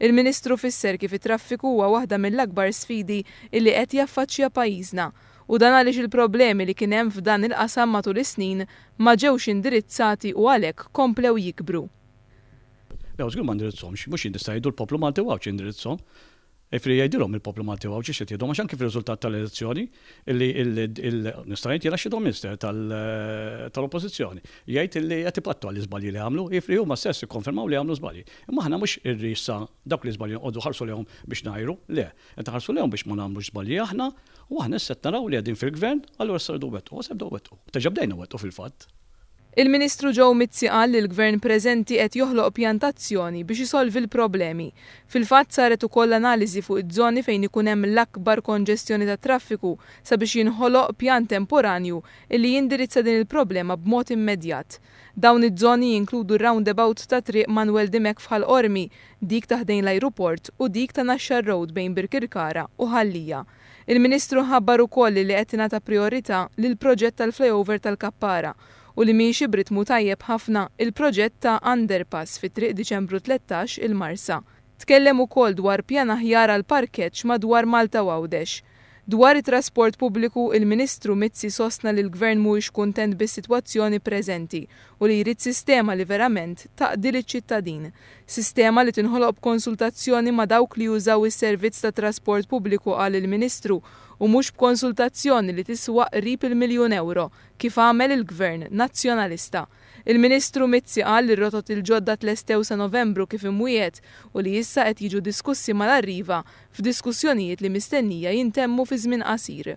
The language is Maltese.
Il-Ministru fisser kif it-traffiku huwa waħda mill-akbar sfidi illi qed jaffaċċja pajjiżna u dan għaliex il-problemi li kien hemm f'dan il-qasam matul is-snin ma ġewx indirizzati u għalhekk komplew jikbru. Le, żgur ma ndirizzhomx. Mhux jien issa jgħidu l-poplu Malti u Għawdxi jindirizzhom. Jiġifieri jgħidilhom il-poplu Malti u Għawdxi x'qed jgħidhom għax anki fir-riżultat tal-elezzjoni, illi nista' ngħid jiena shadow minister tal-Oppożizzjoni, jgħid illi qed ipattu għall-iżbalji li għamlu, jiġifieri huma stess ikkonfermaw li għamlu żbalji. Imma aħna mhux irri issa dawk l-iżbalji noqogħdu nħarsu lejhom biex ngħajru, le, qed inħarsu lejhom biex ma nagħmlux żbalji aħna u aħna issa qed naraw li qegħdin fil-Gvern allura issa rridu nwettqu, u issa nibdew nwettqu. Diġà bdejna nwettqu fil-fatt. Il-Ministru Joe Mizzi qal li l-Gvern preżenti qed joħloq pjan ta' azzjoni biex isolvi l-problemi. Fil-fatt saret ukoll analiżi fuq iż-żoni fejn ikun hemm l-akbar konġestjoni tat-traffiku sabiex jinħoloq pjan temporanju illi jindirizza din il-problema b'mod immedjat. Dawn iż-żoni jinkludu r-roundabout ta' Triq Manwel Dimech f'Ħal Qormi, dik ta' ħdejn l-ajruport u dik ta' Naxxar Road bejn Birkirkara u Ħal Lija. Il-Ministru ħabbar ukoll li qed tingħata prijorità lill-proġett tal-flyover tal-Kappara u li miexi b'ritmu tajjeb ħafna il-proġett ta' underpass fi Triq Diċembru Tlettax il-Marsa. Tkellem ukoll dwar pjan aħjar għall-parkeġġ madwar Malta u Għawdex. Dwar it-trasport pubbliku, il-Ministru Mizzi sostna li l-Gvern mhuwiex kuntent bis-sitwazzjoni preżenti u li jrid sistema li verament taqdi liċ-ċittadin. Sistema li tinħoloq b'konsultazzjoni ma' dawk li jużaw is-servizz tat-trasport pubbliku qal il-Ministru u mhux b'konsultazzjoni li tiswa qrib il-miljun ewro kif għamel il-Gvern Nazzjonalista. Il-Ministru Mizzi qal li r-rotot il-ġodda tlestew sa Novembru kif imwiegħed u li issa qed jiġu diskussi mal-Arriva f'diskussjonijiet li mistennija jintemmu fi żmien qasir.